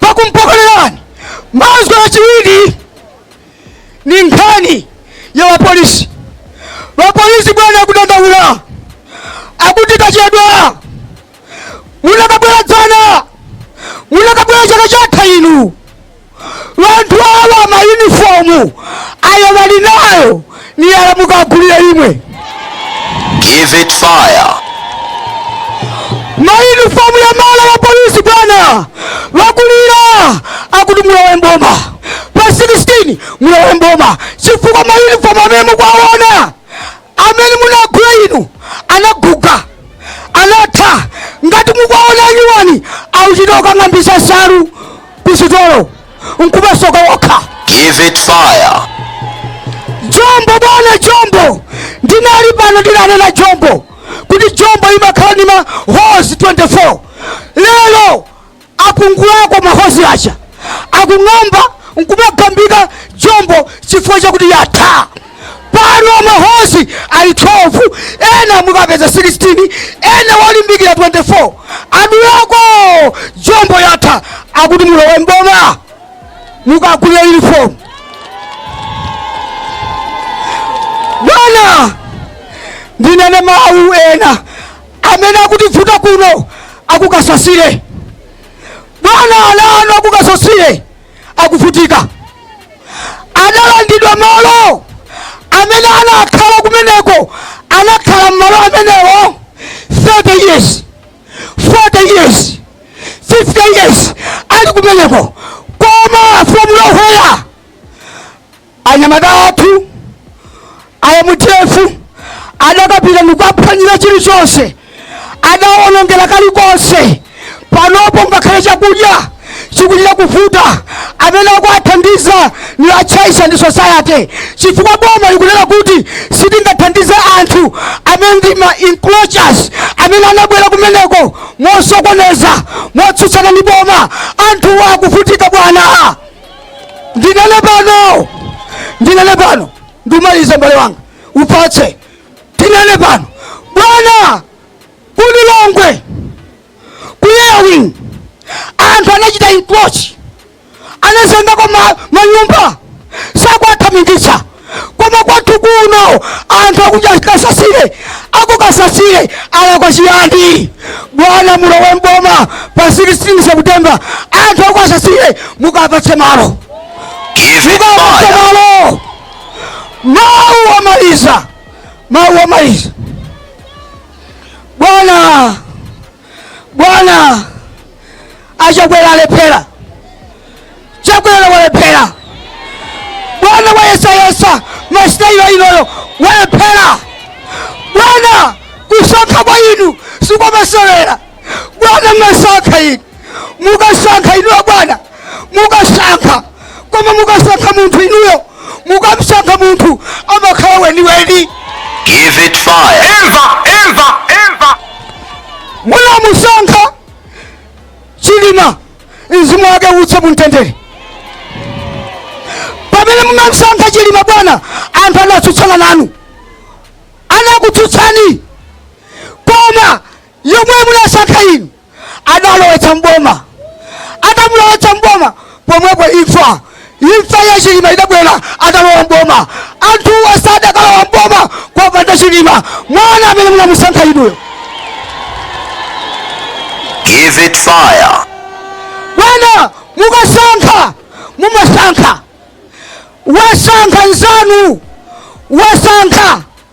pakumpokolerani mazwi achiwiri ni nkhani ya wapolisi wapolisi bwana akudandaula akuti kwachedwa munakabwera dzana munakabwera chaka chatha inu bantu awa mayunifomu ayo bali nayo niyala mukagulile imwe Give it fire. mayunifomu ya mala wa polisi bwana bakulila akuti mulowe mboma pa 16 mulowe mboma chifukwa mayunifomu amene mukwawona Amene munagula inu anaguga, anatha, ngati mukuwaona anyuwani akuchita kukang'ambitsa nsalu kusitolo nkumasoka okha. Give it fire. Jombo bwana Jombo, ndinali pano ndinanena Jombo kuti Jombo imakhala ndi ma holes 24 lero Apungulako ma holes aja akung'amba nkumagambika jombo chifukwa chakuti yatha. Pano ma holes ali 12 ena mukapeza 16 ena walimbikira 24 adulako jombo yatha akuti mulowe mboma mukagulire uniform bwana ndinene mawu ena amene akutivuta kuno aku Kasasile bwana ana anu aku Kasasile akuvutika adalandidwa malo amene anakhala kumeneko anakhala mmalo amenewo 30 years 40 years 50 years ali kumeneko koma from nowhere anyamata athu a MDF adakapita ndikukaphwanyira chilichonse adawonongera kalikonse panopo ngakhale chakudya chikuchita kuvuta amene akuwathandiza ni a Church and Society chifukwa boma likunena kuti sitingathandize anthu amene ndi ma encroachers amene anabwera kumeneko mosokoneza motsutsana ndi boma anthuwa akuvutika bwana ndinene pano ndinene pano ndimalize mbale wanga ufatse ndinene pano bwana ku Lilongwe ku Airwing anthu anachita encroach anazengako ma- manyumba sakuwathamangitsa koma kwathu kuno anthu akuja Kasasile aku Kasasile alakwa chiyani bwana mulowe mboma pa 16 september anthu aku Kasasile mukapatse malo Give it mukapatse fire. malo mawu omaliza mawu omaliza bwana bwana achakwera alephera chakwera walephera bwana wayesayesa masitayilo inoyo walephera bwana kusankha kwa inu sikwamasewera bwana mwasankha inu mukasankha inu abwana mukasankha koma mukasankha munthu inuyo mukamsankha munthu amakhala weniweni Give it fire. Imva, imva, imva. munamusankha chilima mzimu wake uwuse mumtendere pamene munamsankha chilima bwana anthu anatsutsana nanu anakutsutsani koma yemwe munasankha inu adalowetsa mboma atamulowetsa mboma pomwepo imfa imfa ya chilima idabwera atalowa mboma anthu asadakalowa mboma kopanda chilima mwana amene munamusankha inuyo Give it fire. bwana mukasankha mumasankha wasankha nzanu wasankha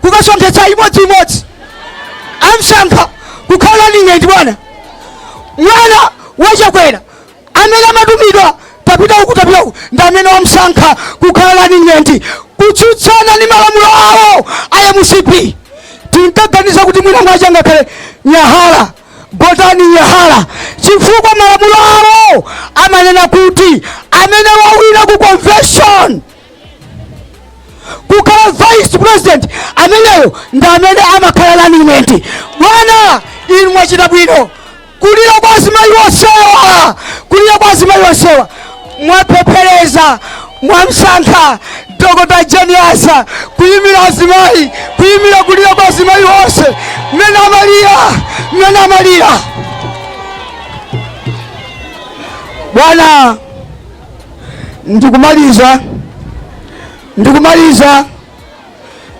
kukasonkhetsa imodzi imodzi amsankha kukhala running mate bwana mwana wachakwera amene amatumidwa tapita uku tapita uku ndi amene wamsankha kukhala running mate kutsutsana ndi malamulo awo a mcp tinkaganiza kuti mwina mwa Changakhale Hara Gotani Hara chifukwa malamulo awo amanena kuti amene wawina ku convention kukhala vice president ameneyo ndi amene amakhala running mate bwana inu mwachita bwino kulira kwa azimayi onsewa kulira kwa azimayi onsewa mwapepeseza mwamsankha dr Jane Ansah kuyimira azimayi kuyimira kulira kwa azimayi onse mmene amalira mmene amalira bwana ndikumaliza ndikumaliza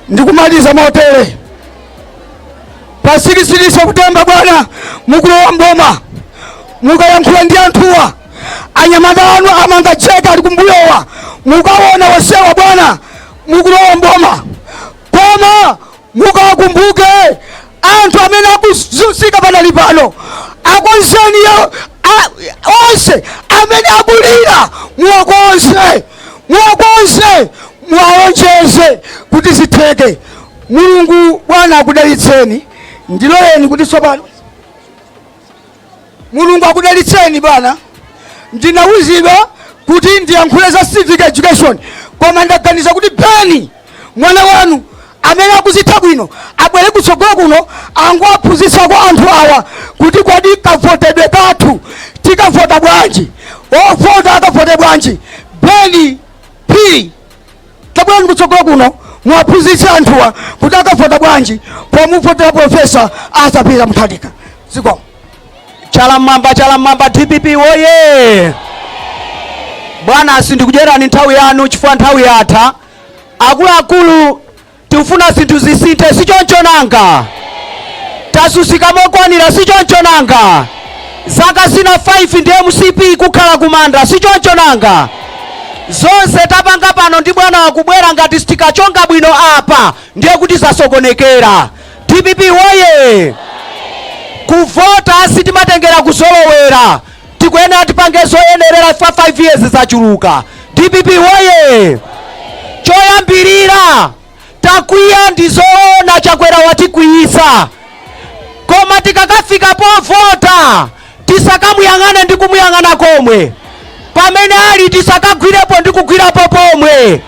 ndikumaliza motere pa 16 septemba bwana mukulowa mboma mukayankhula ndi anthuwa anyamata anu a Mangacheka ali kumbuyowa mukaona wosewa bwana mukulowa mboma koma mukawakumbuke anthu amene akuzunzika panalipano akonzeni yo- a- onse amene akulira muwakonze muwakonze muwalonjeze kuti zitheke mulungu bwana akudalitseni ndiloleni kuti tsopano mulungu akudalitseni bwana ndinawuzidwa kuti ndiyankhule za civic education koma ndaganiza kuti beni mwana wanu amene akuzitha bwino abwere kutsogolo kuno angowaphunzitsako anthu awa kuti kodi kavotedwe kathu tikavota bwanji ovota akavote bwanji beni p Tabwerani kutsogolo kuno muwaphunzitse anthuwa kuti akavota bwanji pomuvotera Profesa Arthur Peter Mutharika. Zikomo. Chala mmwamba, chala mmwamba, DPP woye! Bwana, sindikudyerani nthawi yanu chifukwa nthawi yatha. Akuluakulu Tikufuna zinthu zisinthe, si choncho nanga? Tazunzika mokwanira, si choncho nanga? Zaka zina 5 ndi mcp kukhala kumanda, si choncho nanga? Zonse tapanga pano ndi bwana wakubwera, ngati sitikachonga bwino apa ndiye kuti zasokonekera. Dpp woye! Kuvota sitimatengera kuzolowera. tikuyenera tipange zoyenerera chifukwa 5 years zachuluka dpp woye choyambirira takwiya ndi zoona chakwera watikwiyisa koma tikakafika povota tisakamuyang'ane ndi kumuyang'ana komwe pamene ali tisakagwirepo ndi kugwirapo pomwe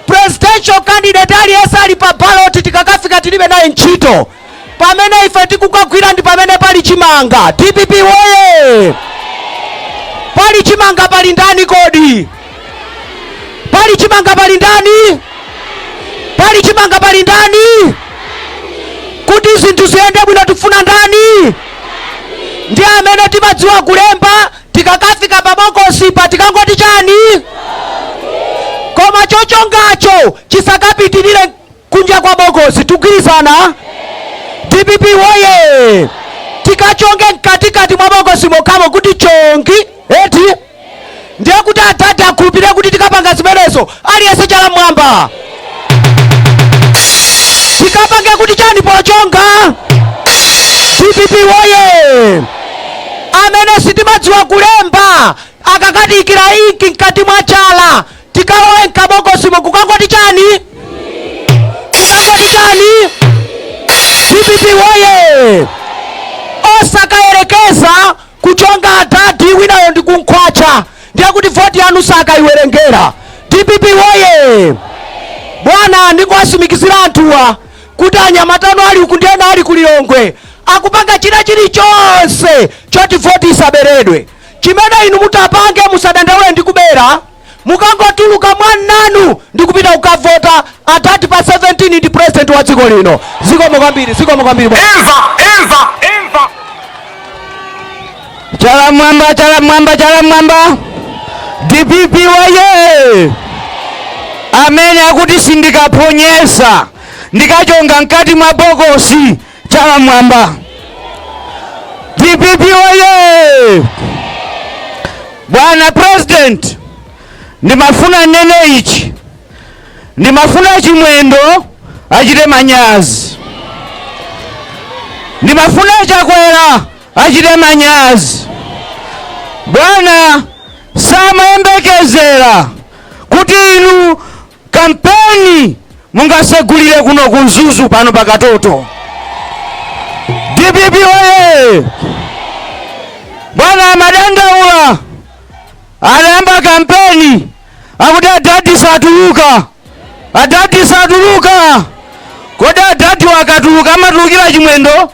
presidential candidate aliyense ali pa ballot tikakafika tilibe naye ntchito pamene ife tikukagwira ndi pamene pali chimanga dpp woye pali chimanga pali ndani kodi pali chimanga pali ndani pali chimanga pali ndani kuti zinthu ziyende bwino tifuna ndani ndi amene timadziwa kulemba tikakafika pabokosipa tikangoti chani koma chochongacho chisakapitirire kunja kwa bokosi tikugwirizana dpp woye tikachonge mkatikati mwa bokosi mokhamo kuti chongi eti ndiye kuti atate akhulupirire kuti tikapanga zimenezo aliyense chala mmwamba tikapange kuti chani pochonga dpp woye amene sitimadziwa kulemba akakatikita inki mkati mwa chala tikalowe mkabokosimo kukangoti chani kukangoti chani dpp woye osakayerekeza kuchonga adadi winayo ndi kumkhwatcha ndiye kuti voti yanu sakayiwerengera dpp woye bwana ndikuwatsimikizira anthuwa kuti anyamatano ali uku ndi ena ali kulilongwe akupanga china chilichonse choti voti isaberedwe Chimene inu mutapange musadandaule ndi kubera mukangotuluka mwaunyinji wanu ndikupita kukavota atati pa 17 ndi president wa dziko lino zikomo kwambiri zikomo kwambiri bwana. Imva, imva, imva. Chala mmwamba, chala mmwamba, chala mmwamba. DPP woye. Amene akuti sindikaphonyetsa. Ndikachonga mkati mwa bokosi. chala mwamba dpp oye bwana president ndimafuna ndinene ichi ndimafuna a Chimwendo achite manyazi ndimafuna a Chakwera achite manyazi bwana samayembekezera kuti inu Kampeni mungasegulire kuno ku Mzuzu pano pa Katoto. DPP oye! Bwana amadandaula anayamba kampeni akuti adadi satuluka, adadi satuluka. Kodi adadiwo akatuluka amatulukira chimwendo?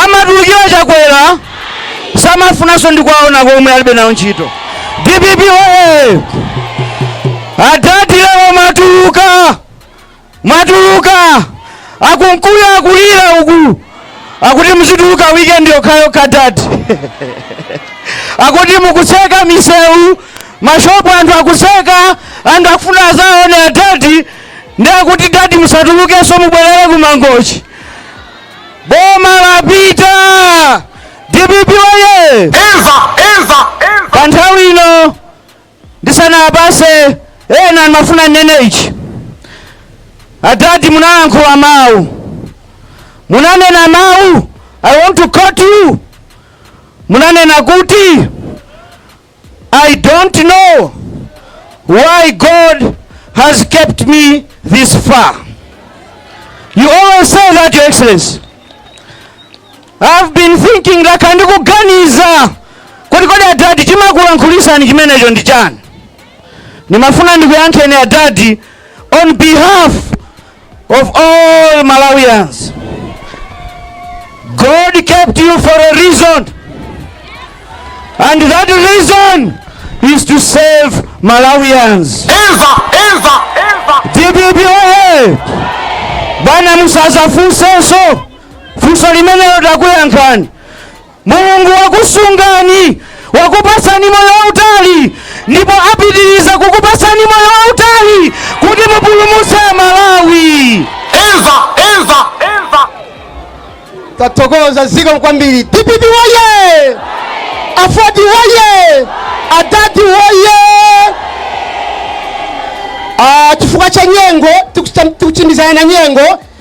Amatulukira chakwera? Samafunanso ndi kuwaona komwe alibe nawo ntchito. Dpp oye! Adadi lero mwatuluka! Mwatuluka! A Kunkuyu akulira uku. Akuti muzituluka weekend yokhayo ka dadi. Akuti mukutseka misewu, mashopu anthu akutseka, anthu akufuna azaone adadi ndi akuti dadi musatulukenso mubwerere ku mangochi boma lapita dpp oye imva imva pa nthawi ino ndisanapatse ena ndimafuna nnene ichi adadi munalankhula mawu munanena mawu i want to quote you munanena kuti I don't know why God has kept me this far. You always say that, Your Excellency. I've been thinking like ndikuganiza kuti kodi adadi chimakulankhulitsani chimenecho ndi chani ndimafuna ndikuyankheni adadi on behalf of all Malawians. God kept you for a reason. And that reason is to save Malawians. Eva, Eva, Eva. DPP oye! Bwana musazafunsenso funso limenelo takuyankhani Mulungu wakusungani, wakupatsani moyo wautali ndipo apitiriza kukupatsani moyo wautali kuti mupulumutse Amalawi. Eva, Eva, Eva. Tathokoza ziko kwambiri. DPP woye! AFORD woye! Adadi woye! Ah, chifukwa cha nyengo tikuchita- tikuchindizana na nyengo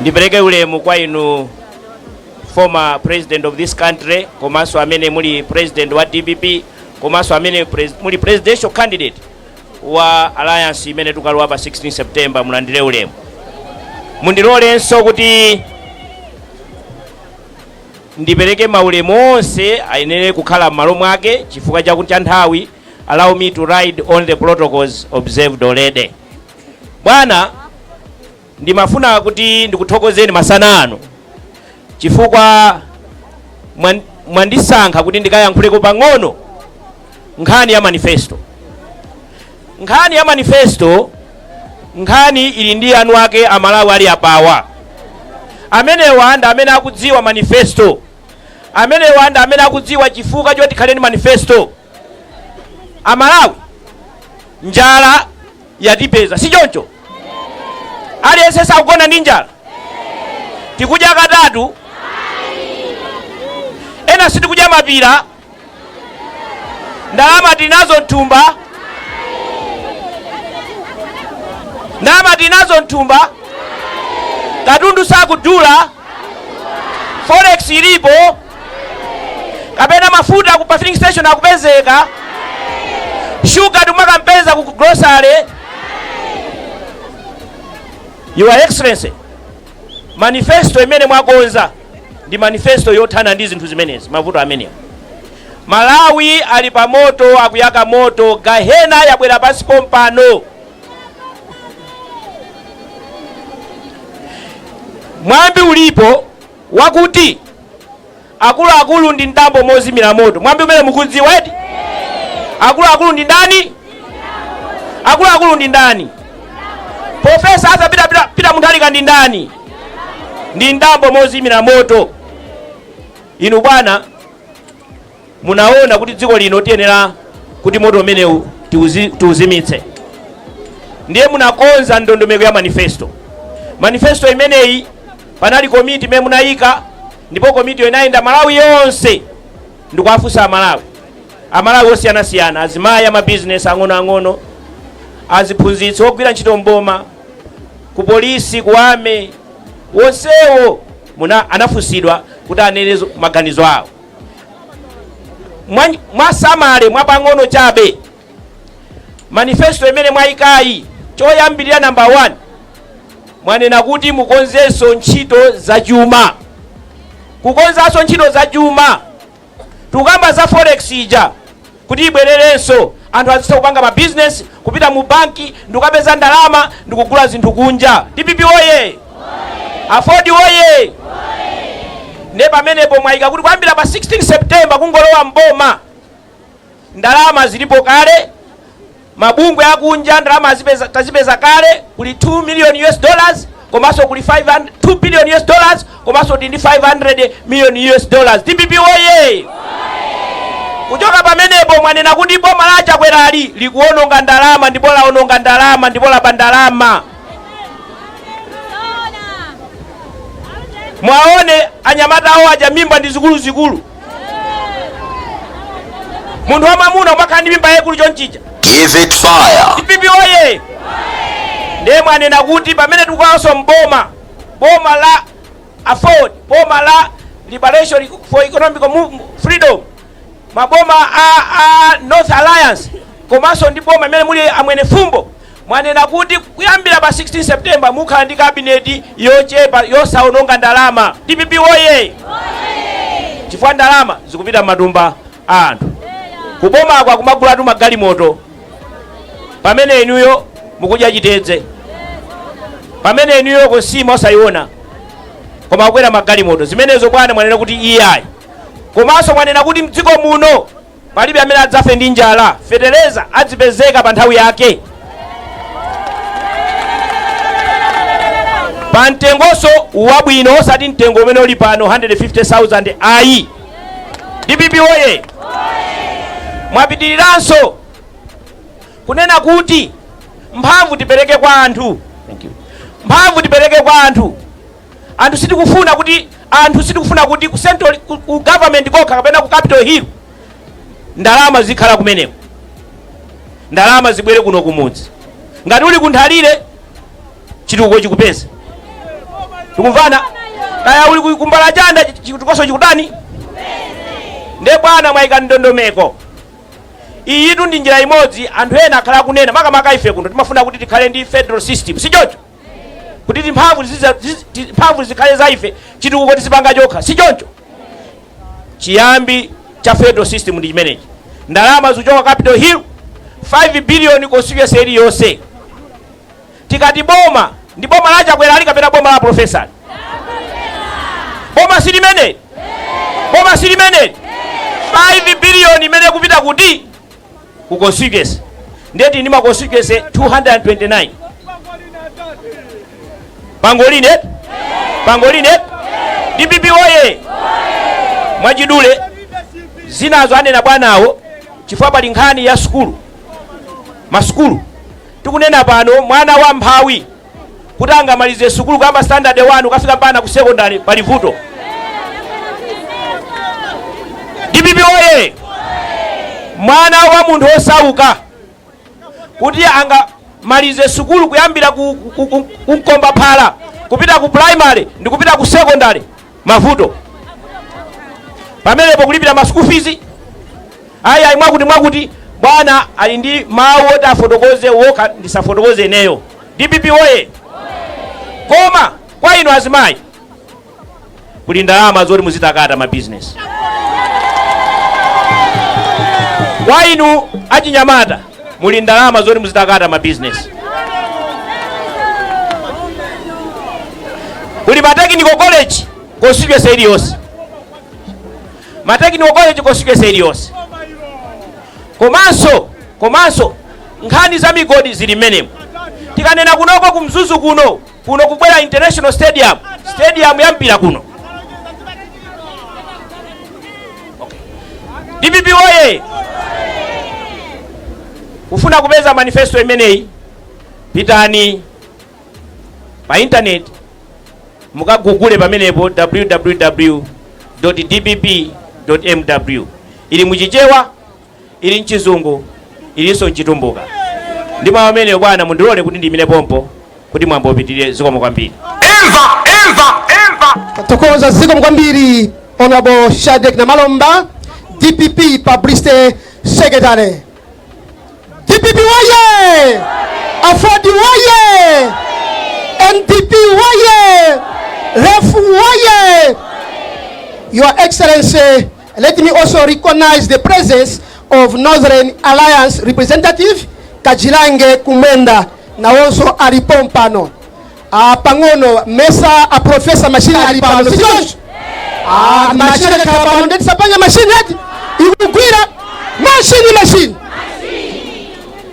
Ndipereke ulemu kwa inu former president of this country komanso amene muli president wa dpp komanso amene pres, muli presidential candidate wa alliance imene tukalowa pa 16 september mulandire ulemu mundilolenso kuti ndipereke maulemu onse ayenera kukhala m'malo mwake chifukwa chakuti cha nthawi allow me to ride on the protocols observed already bwana Ndimafuna kuti ndikuthokozeni masana ano chifukwa mwan, mwandisankha kuti ndikayankhuleko pang'ono nkhani ya manifesto. Nkhani ya manifesto, nkhani ili ndi eni ake Amalawi ali apawa. Amenewa ndi amene akudziwa manifesto, amenewa ndi amene akudziwa chifukwa choti khaleni manifesto. Amalawi, njala yatipeza si choncho aliyense sakugona ndi njala tikudya katatu ena sitikudya mapira ndalama tinazo mthumba ndalama tinazo mthumba katundu sakudula forex ilipo kapena mafuta ku filling station akupezeka shuga tikumakampeza ku grocery your excellency manifesto imene mwakonza ndi manifesto yothana ndi zinthu zimenezi mavuto amenewa malawi ali pa moto akuyaka moto gahena yabwera pansi pompano mwambi ulipo wakuti akuluakulu ndi mdambo mozimira moto. Mwambi umenewu mukudziwa eti? Akuluakulu ndi ndani? Akuluakulu ndi ndani? Profesa Arthur Peter Mutharika ndi ndani? Ndi mdambo mozimira moto. Inu bwana Munaona kuti dziko lino tiyenera kuti moto umenewu tiuzi, tiuzimitse ndiye munakonza ndondomeko ya manifesto. Manifesto imeneyi panali komiti imene munayika ndipo komitiyo inayenda Malawi yonse ndikuwafunsa Amalawi, Amalawi osiyanasiyana, azimayi, amabizinesi ang'onoang'ono, aziphunzitsi, ogwira ntchito mboma, ku polisi, ku army, onsewo anafunsidwa kuti anene zo- maganizo awo. mwatsamale mwapang'ono chabe manifesto imene mwayikayi choyambirira namba 1 mwanena kuti mukonzenso ntchito za chuma kukonzanso ntchito za chuma tukamba za forex ija kuti ibwererenso, anthu azitha kupanga ma business, kupita mu bank ndikukapeza ndalama ndikugula zinthu kunja. Dpp woyee! Aford woyee! Nde pamenepo mwayika kuti kuyambira pa 16 September kungolowa m'boma ndalama zilipo kale, Mabungwe akunja ndalama tazipeza kale kuli 2 million US dollars komanso kuli 2 billion US dollars komanso tili ndi 500 million US dollars. DPP woye! Kuchoka pamenepo mwanena kuti boma la Chakwerali likuononga ndalama ndipo laononga ndalama ndipo laba ndalama. Mwaone anyamata awo aja mimba ndi zikuluzikulu. munthu wamamuna umakhala ndi mimba yaikulu chonchija Give it fire. DPP oye ndiye mwanena kuti pamene tikulowanso mboma boma la AFORD boma la liberation for economic freedom maboma a, a north alliance komanso ndi boma imene muli a Mwenifumbo Mwanena kuti kuyambira pa 16 September mukhala ndi cabinet yochepa yosaononga ndalama. Dpp woyee! Chifukwa ndalama zikupita mmatumba a anthu. Ku bomako akumagulatu magalimoto pamene inuyo mukudya chitedze. Pamene inuyo nsima osaiona koma kukwera magalimoto. Zimenezo bwana mwanena kuti iyayi. Komanso mwanena kuti mdziko muno Palibe amene adzafe ndi njala. Fetereza adzipezeka pa nthawi yake, pa mtengonso wabwino, osati mtengo umene uli pano 150,000 ayi. DPP woye! Mwapitiriranso kunena kuti mphamvu tipereke kwa anthu. Mphamvu tipereke kwa anthu. Anthu sitikufuna kuti anthu sitikufuna kuti ku central ku, ku government kokha kapena ku Capital Hill ndalama zizikhala kumeneko ndalama zibwere kuno kumudzi ngati uli ku Nthalire chitukuko chikupeze tikumvana kaya uli ku- ku Mbalachanda chitukukoso chikutani nde bwana mwayika ndondomeko iyitu ndi njira imodzi anthu ena akhala akunena makamaka ife kuno timafuna kuti tikhale ndi federal system si choncho kuti timphamvu tiziza- tizi- ti- mphamvu zikhale za ife chitukuko tizipanga tokha si choncho chiyambi cha federal system ndi chimenechi ndalama zikuchoka Capital Hill 5 billion constituency iliyonse tikati boma ndi boma la Chakwerali kapena boma la profesa boma si limeneli boma si limeneli 5 billion imene ikupita kuti ku constituency ndiye tili ndi ma constituency 229 pangolini eti pangolini eti DPP oye mwachidule zinazo anena bwanawo chifukwa pali nkhani ya sukulu masukulu tikunena pano mwana wa mphawi kuti angamalize sukulu kuyamba standard 1 kukafika mpaka ku secondary pali vuto dpp oye mwana wa munthu osauka kuti angamalize sukulu kuyambira ku, ku, ku, ku mkomba phala kupita ku primary ndi kupita ku secondary mavuto pamenepo kulipira ma school fees ayi ayi mwakuti mwakuti bwana ali ndi mawu oti afotokoze wokha ndisafotokoze ineyo dpp oye koma kwa inu azimayi kuli ndalama zoti muzitakata ma business kwa inu achinyamata muli ndalama zoti muzitakata ma business kuli ma technical college constituency iliyonse ma technical college constituency iliyonse komanso komanso nkhani za migodi zili mmenemo tikanena kunoko ku Mzuzu kuno kuno kubwera international stadium stadium ya mpira kuno dpp oye kufuna kupeza manifesto imeneyi pitani pa internet mukagugule pamenepo www dpp mw ili muchichewa Ili m'Chizungu, ilinso m'Chitumbuka. Ndi mawu amenewo, bwana, mundilole kuti ndiimire pompa kuti mwambo upitirire. Zikomo kwambiri. Tathokoza. Zikomo kwambiri Honorable Shadreck Namalomba, dpp Publicity Secretary. Dpp woye! Aford woye! NDP woye! Ref woye! Your Excellency Let me also recognize the presence of Northern Alliance representative Kajilange Kumwenda nawonso ali pompano ah, pang'ono mesa a profesa mashini ali pano si choncho ah, mashini akhala pano ndeti sapanya mashini ati ikugwira mashini mashini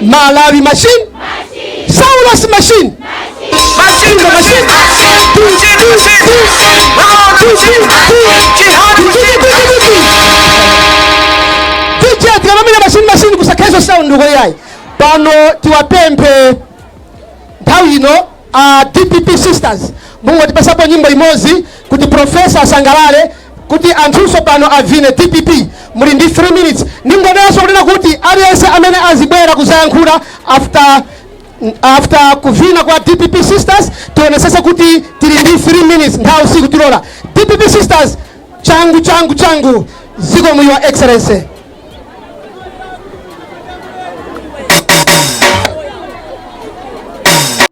malawi machine saulos machine machinga machine tije tikamamenya machine machine kusakhale sound uko yayi pano tiwapemphe nthawi ino a dpp sisters mungotipasapo nyimbo imodzi kuti profesa asangalale kuti anthunso pano avine dpp muli ndi 3 minutes ndingonenanso kunena kuti aliyense amene azibwera kuzayankhula after after kuvina kwa dpp sisters tionesese kuti tili ndi 3 minutes nthawi sikutilola dpp sisters changu changu changu zikomo your excellency